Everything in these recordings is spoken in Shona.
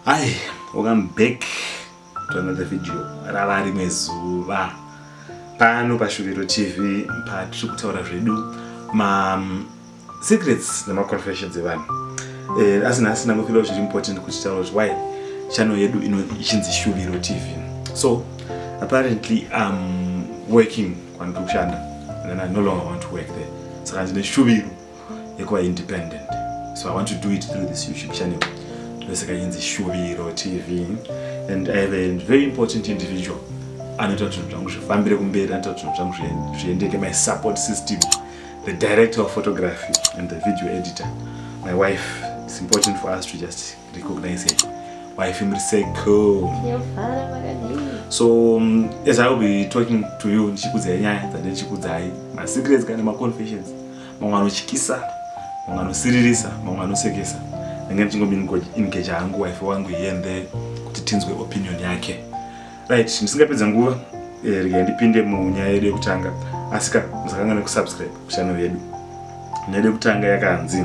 Hi, welcome back to another video rava rimwe zuva pano pashuviro tv patiri kutaura zvedu ma mm, secrets nemaconfessions evanhu eh, asi nhasi ndangofila zviri important kuti taura kuti why channel yedu ichinzi shuviro tv so apparently im working kwandiri kushanda and i no longer want to work there saka ndine shuviro yekuva independent so i want to do it through this youtube channel ndosaka inzi shuviro tv and i have a very important individual anoita kuti zvinhu zvangu zvifambire kumberi anoita kuti zvinhu zvangu zviendeke my support system the director of photography and the video editor my wife it's important for us to just recognize her wife muri seko so um, as i will be talking to you ndichikudzai nyaya dzande ndichikudzai masecrets kana maconfessions mamwe anotyisa mamwe anosiririsa mamwe anosekesa ndenge ndichingomingage hangu wife wangu iende kuti tinzwe opinion yake right ndisingapedza nguva eh, rega ndipinde munyaya yedu yekutanga asi ka musakanga nekusubscribe kuchannel yedu nyaya yedu yekutanga yakanzi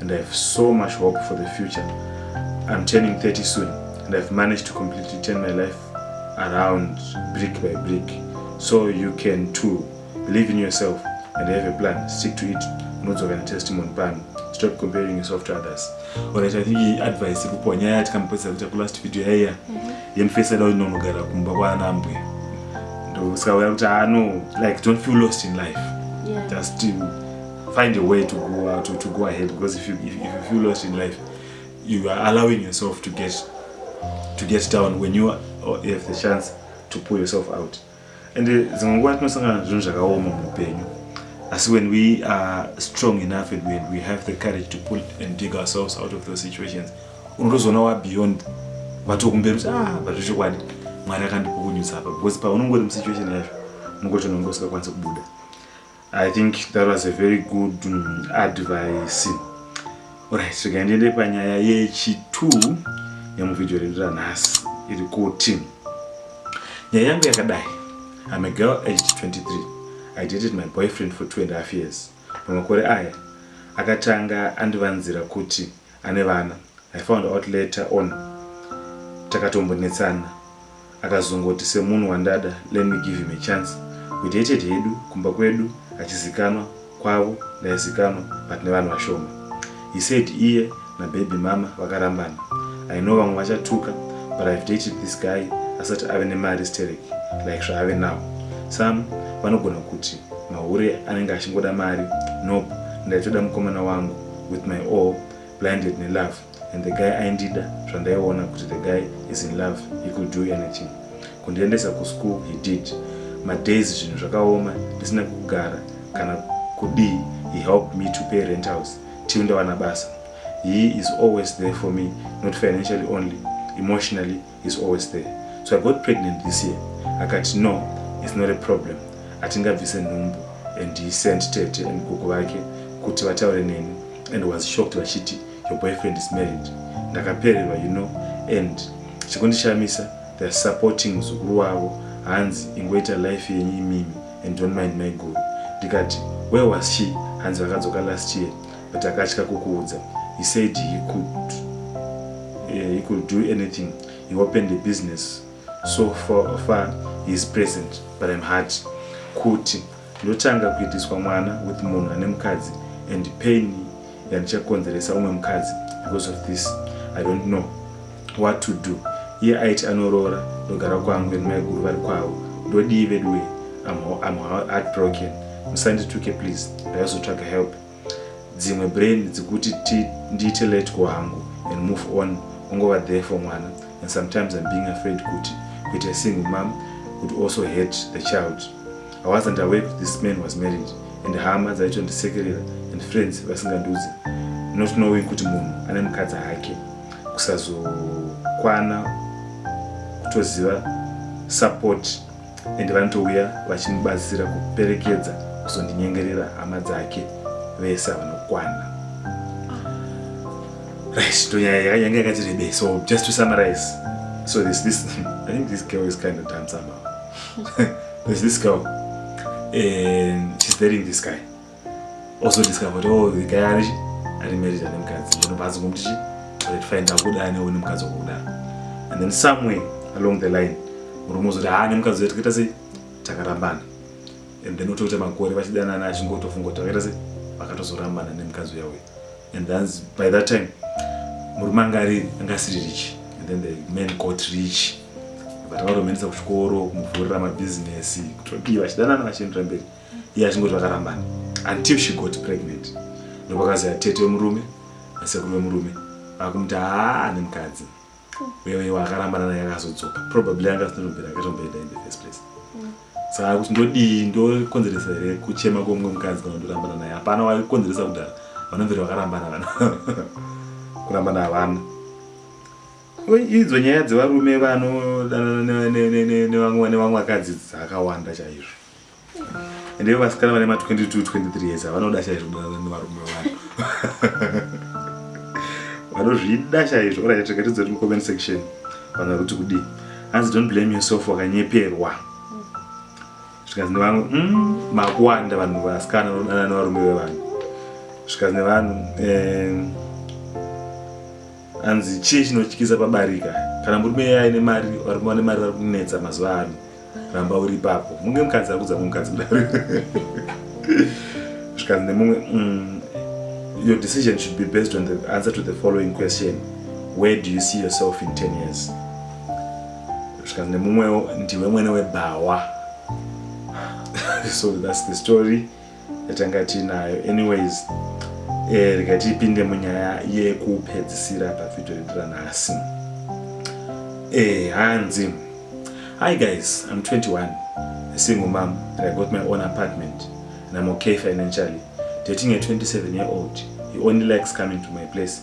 and I have so much hope for the future. I'm turning 30 soon and I've managed to completely turn my life around brick by brick. So you can too. Believe in yourself and have a plan. Stick to it. Unodzoka na testimony pano. Stop comparing yourself to others. Alright, I think iyi advice ikupo nyaya yatikamupedzisa kuita ku last video yaiya mhm. yemufesi ada unonogara kumba kwaana ambwe ndosakauya kuti ano ah, like don't feel lost in life yeah. just Find a way to go out or to go ahead because if you, if, if you feel lost in life, you are allowing yourself to get to get down when you have the chance to pull yourself out. And uh, dzimwe nguva tinosangana zvinhu zvakaoma muupenyu asi when we are strong enough and when we have the courage to pull and dig ourselves out of those situations unotozoona wa beyond vatokumberi kuti ah but zvechokwadi mwari akandipukunyutsa apa because paunongori musituation yacho mungochona unge usingakwanisi kubuda I think that was a very good um, advice. Alright, so can you panyaya yechitu yemuvhidhiyo redu ranhasi iri kuti nyaya yangu yakadai I'm a girl aged 23 I dated my boyfriend for two and a half years pamakore aya akatanga andivanzira kuti Ane vana I found out later on takatombonetsana akazongoti semunhu wandada let me give him a chance we dated hedu kumba kwedu achizikanwa kwavo ndaizikanwa but nevanhu vashoma he said iye nababy mama vakarambana I know vamwe vachatuka but I've dated this guy asati ave nemari sterek like zvaave now some vanogona kuti mahure anenge achingoda mari nope ndaitoda mukomana wangu with my all blinded nelove and the guy aindida zvandaiona kuti the guy is in love he could do anything kundiendesa kuschool he did madays zvinhu zvakaoma ndisina kugara kana kudii he helped me to pay rent house till ndawana basa he is always there for me not financially only emotionally is always there so i got pregnant this year akati no it's not a problem atingabvise nhumbu and he sent tete and gogo vake kuti vataure neni and was shocked vachiti your boyfriend is married ndakapererwa you know and chikundishamisa theyare supporting muzukuru wavo hanzi ingoita life yenyu imimi and don't mind my gogo ndikati where was she hanzi vakadzoka last year but akatya kukuudza he said he could, uh, he could do anything he opened a business so far, far he is present but im hard kuti ndotanga kuitiswa mwana with munhu ane mukadzi and pain yandichakonzeresa umwe mukadzi because of this i don't know what to do iye aiti anoroora ndogara kwangu and maiguru vari kwavo ndodii veduwe am, am heartbroken musandituke please ndaizotsvaga help dzimwe brain dzikuti ndiite let go hangu and move on ungova there for mwana and sometimes I'm being afraid kuti kuita a single mom could also hurt the child I wasn't aware kuti this man was married and hama dzaitondisekerera and friends vasingandiudze not knowing kuti munhu ane mukadzi hake kusazokwana kutoziva support ende vanotouya vachimubatsira kuperekedza kuzondinyengerera hama dzake vese avanokwana right tonyaya yanga yakati rebe so just to summarize so this this i think this girl is kind of done somehow there's this girl and she's dating this guy also discover kuti oh the guy ari chi ari married ane mukadzi ndinobva azi ngomuti chi but fine ndakuda ane une mukadzi wakudaro and then somewhere along the line murume uzoti haa nemukadzi uya takaita sei takarambana and then otoita makore vachidanana achingotofunga kuti vakaita sei vakatozorambana nemukadzi uya uya and then by that time murume anga ari anga asiri rich and then the man got rich but varomenisa kuchikoro kumuvhurira mabizinesi kutodii vachidanana vachiendera mberi iye achingoti vakarambana until she got pregnant ndopakazaya tete wemurume nasekuru wemurume vakumuti haa ane mukadzi wewe iwe akarambana naye akazodzoka probably anga asinotombera akatomboenda in the first place saka kuti ndodii ndokonzeresa here kuchema kwomumwe mukadzi kana ndorambana naye hapana waikonzeresa kudhara vanomveri vakarambana vana kurambana havana idzo nyaya dzevarume vanodanana nevamwe vakadzi dzakawanda chaizvo Ndiwe vasikana vane ma 22 23 years vanoda chaizvo kudanana nevarume vanhu. Vanozvida chaizvo. Ora yateka tidzo mu comment section. Vanga kuti kudi. Hanzi don't blame yourself wakanyeperwa. Zvikazi nevanhu mm, makuwanda vanhu vasikana vanodanana nevarume vevanhu. Zvikazi nevanhu eh anzi chii chinotyisa pabarika kana murume aine mari varume vane mari vari kunetsa mazuva ano ramba uri ipapo munge mukadzi akudza mumwe mukadzi kudaro zvikanzi nemumwe mm, your decision should be based on the answer to the following question where do you see yourself in 10 years zvikanzi nemumwewo ndiwe mwene webhawa so that's the story yatanga tiinayo anyways eh, rega tipinde munyaya yekupedzisira pavhidhiyo yedu ranhasi eh, hanzi hi guys im 21 a single mom and i got my own apartment and im okay financially dating a 27 year old he only likes coming to my place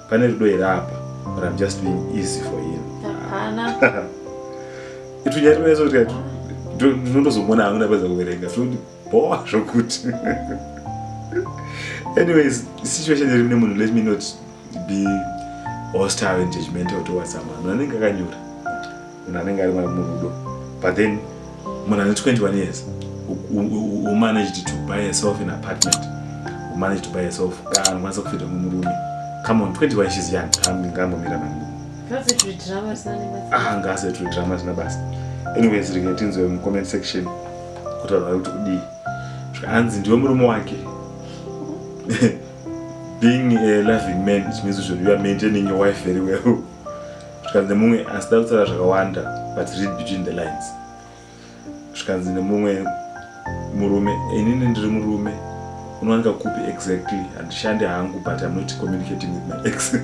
Pane rudo here apa or I'm just being easy for him? Hapana. Itu nyari mwezo kuti kati ndinotozomona hangu ndapedza kuverenga zvoti bhowa zvokuti. Anyways, situation iri mune munhu let me not be hostile and judgmental towards someone. Munhu anenge akanyura. munhu anenge ari murudo but then munhu ane 21 years umanaged to buy yourself in apartment umanaged to buy yourself kaa unokwanisa kufita mumurume come on 21 she's young ngambomira mani ah ngase tiri drama zina basa anyways rege tinzwe mucomment section kuti vanhu vari kuti kudii zvikanzi ndiwe murume wake being a loving man it means kuti you are maintaining your wife very well zvikanzi nemumwe asi da kutaura zvakawanda but read between the lines zvikanzi nemumwe murume inini ndiri murume unowanika kupi exactly handishandi hangu but im not communicating with my ex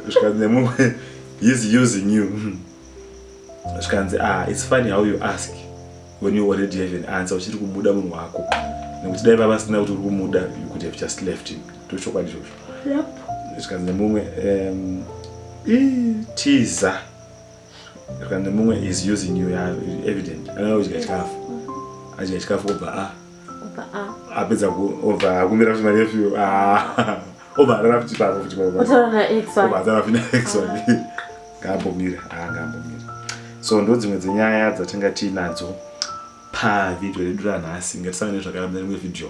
zvikanzi nemumwe he's using you zvikanzi ah it's funny how you ask when you already have an answer uchiri kumuda munhu wako nekuti dai vava sina kuti uri kumuda you could have just left him ndochokwadi chocho zvikanzi nemumwe um, tiza zvikanzi nemumwe is using you evident anaa udya chikafu adya chikafu obva a ah. apedza obva akumbira kuti manefyu obva atara futi pako futi obva atara futi naex wake ngaambomira ngaambomira so ndo dzimwe dzenyaya dzatinga tiinadzo pavhidhio redu ranhasi ngatisangane zvakara mune rimwe vhidhio